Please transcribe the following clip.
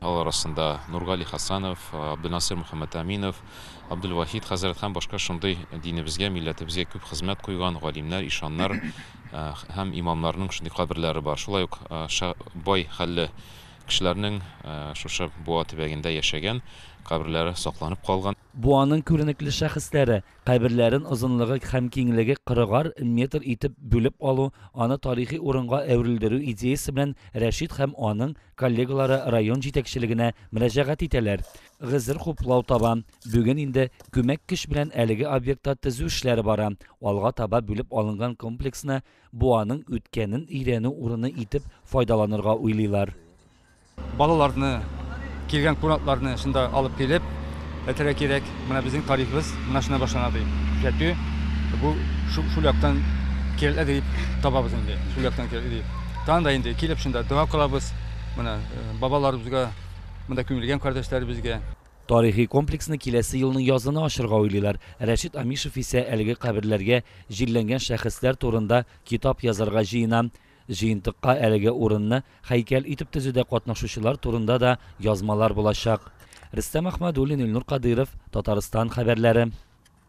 Алар арасында Нургали Хәсәнов, Абделнасыйр Мөхәммәтәминов, Абделвахит хәзрәт һәм башка шундый динебезгә, милләтебезгә күп хезмәт куйган галимнәр, ишаннар һәм имамнарның шундый каберләре бар. Шулай ук бай хәлле кешеләрнең шушы Буа төбәгендә яшәгән каберләре сакланып калган. Буаның күренекле шәхесләре, Каберләрен озынлыгы һәм киңлеге кырыгар метр итеп бүлеп алу, аны тарихи урынга әверелдерү идеясе белән Рәшит һәм аның коллегалары район җитәкчелегенә мөрәҗәгать итәләр. Гозер хуплау таба. Бүген инде күмәк көч белән әлеге объектта төзү эшләре бара. Алга таба бүлеп алынган комплексны Буаның үткәнен өйрәнү урыны итеп файдаланырга уйлыйлар. Балаларны, килгән кунакларны шунда алып килеп, әйтергә кирәк, менә безнең тарихыбыз менә шуннан башлана дип. Күрсәтү, бу шул яктан кирәкле дип табабыз инде, шул яктан кирәкле дип. Тагын да инде килеп шунда дога кылабыз, менә бабаларыбызга, монда күмелгән кардәшләребезгә. Тарихи комплексны киләсе елның язына ачырга уйлыйлар. Рәшит Амишев исә әлеге каберләргә җирләнгән шәхесләр турында китап язарга җыена. Җыентыкка әлеге урынны һәйкәл итеп төзүдә катнашучылар турында да язмалар булачак. Рөстәм Әхмәдуллин, Илнур Кадыйров, Татарстан хәбәрләре.